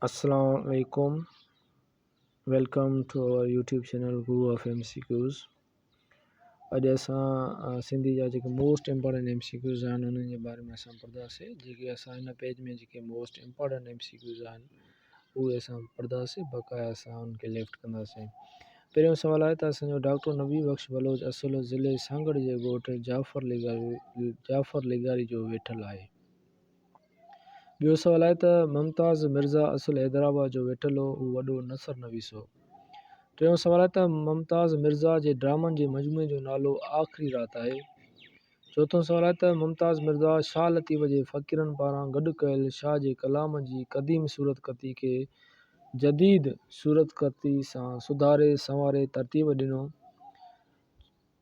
اسلام عليڪم welcome to over YouTube channel guru of M C Qs اڄ اسان سنڌي جا جيڪي most important M C Qs آهن انهن جي باري ۾ اسان پڙهنداسين جيڪي اسان هن پيج ۾ جيڪي most important M C Qs آهن اهي اسان پڙهنداسين بقايا اسان ان کي ليفٽ ڪنداسين پهريون سوال آهي ته اسانجو ڊاڪٽر نبي بخش بلوچ اصل ضلعي سانگهڙ جي ڳوٺ جعفر لغاري جعفر لغاري جو ويٺل آهي ٻيو سوال آهي ته ممتاز مرزا اصل حيدرآباد جو ويٺل هو، هو وڏو نثر نويس هو. ٽيون سوال آهي ته ممتاز مرزا جي ڊرامن جي مجموعي جو نالو آخري رات آهي. چوٿون سوال آهي ته ممتاز مرزا شاهه لطيف جي فقيرن پاران گڏ ڪيل شاهه جي ڪلام جي قديم صورتخطي کي جديد صورتخطي سان سڌاري سنواري ترتيب ڏنو.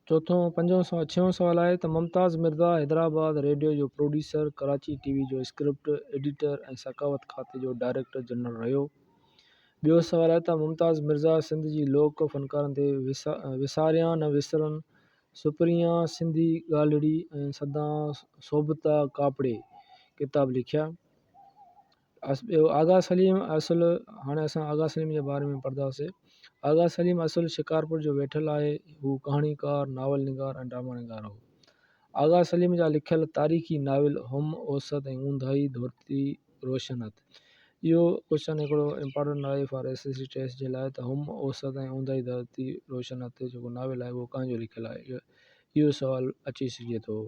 چوٿون، پنجون سوال، ڇهون سوال آهي ته ممتاز مرزا حيدرآباد ريڊيو جو پروڊيوسر، ڪراچي ٽي وي جو اسڪرپٽ ايڊيٽر ۽ ثقافت کاتي جو ڊائريڪٽر جنرل رهيو. ٻيو سوال آهي ته ممتاز مرزا سنڌ جي لوڪ فنڪارن تي وساريان نه وسرن سپريان سنڌي ڳالهڙي ۽ سدان سوڀتا ڪاپڙي ڪتاب لکيا. ٻيو آغا سليم اصل هاڻي اسان آغا سليم جي باري ۾ پڙهنداسين آغا سليم اصل شڪارپور جو ويٺل آهي هو ڪهاڻيڪار ناول نگار ۽ ڊرامه نگار هو آغا سليم جا لکيل تاريخي ناول هم اوسط ۽ اونداهي ڌرتي روشن هٿ اهو ڪوشچن هڪڙو امپورٽنٽ آهي for S S C test جي لاء ته هم اوسط ۽ اونداهي ڌرتي روشن هٿ جيڪو ناول آهي اهو ڪنهن جو لکيل آهي اهو سوال اچي سگهي ٿو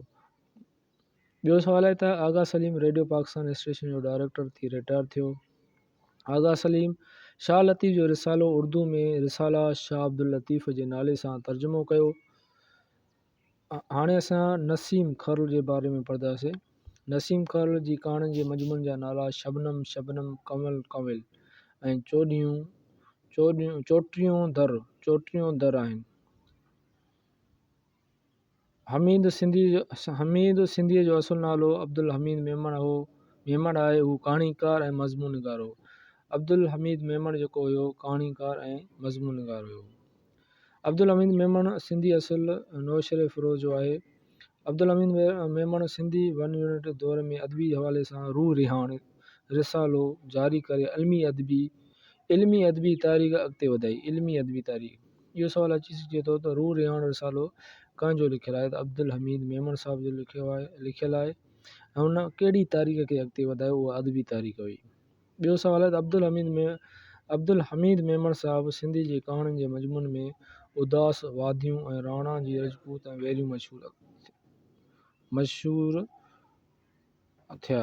ٻيو سوال آهي ته آغا سليم ريڊيو پاڪستان اسٽيشن جو ڊائريڪٽر ٿي رٽائر ٿيو. آغا سليم شاهه لطيف جو رسالو اردو ۾ رساله شاهه عبداللطيف جي نالي سان ترجمو ڪيو. هاڻي اسان نسيم خرل جي باري ۾ پڙهنداسين. نسيم خرل جي ڪهاڻين جي مجموعن جا نالا شبنم، شبنم، ڪنول، ڪنول ۽ چوڏهيون، چوٽيون در، چوٽيون در آهن. حميد سنڌيء جو اصل نالو عبدالحميد ميمڻ هو. ميمڻ آء هو ڪهاڻيڪار ۽ مضمون نگار هو. عبدالحميد ميمڻ جيڪو هيو ڪهاڻيڪار ۽ مضمون نگار هيو. عبدالحميد ميمڻ سنڌي اصل نوشهري فروز جو آهي. عبدالحميد ميمڻ سنڌي ون يونٽ دور ۾ ادبي حوالي سان روح رهاڻ رسالو جاري ڪري علمي ادبي تاريخ اڳتي وڌائي. اهو سوال اچي سگهي ٿو ته روح رهاڻ رسالو ڪنهن جو لکيل آهي ته عبدالحميد ميمڻ صاحب جو لکيو آهي لکيل آهي ۽ هن ڪهڙي تاريخ کي اڳتي وڌايو اها ادبي تاريخ هئي ٻيو سوال آهي ته عبدالحميد مي عبدالحميد ميمڻ صاحب سنڌي جي ڪهاڻين جي مضمون ۾ اداس واديون ۽ راڻا جي رجپوت ۽ ويريون مشهور مشهور ٿيا.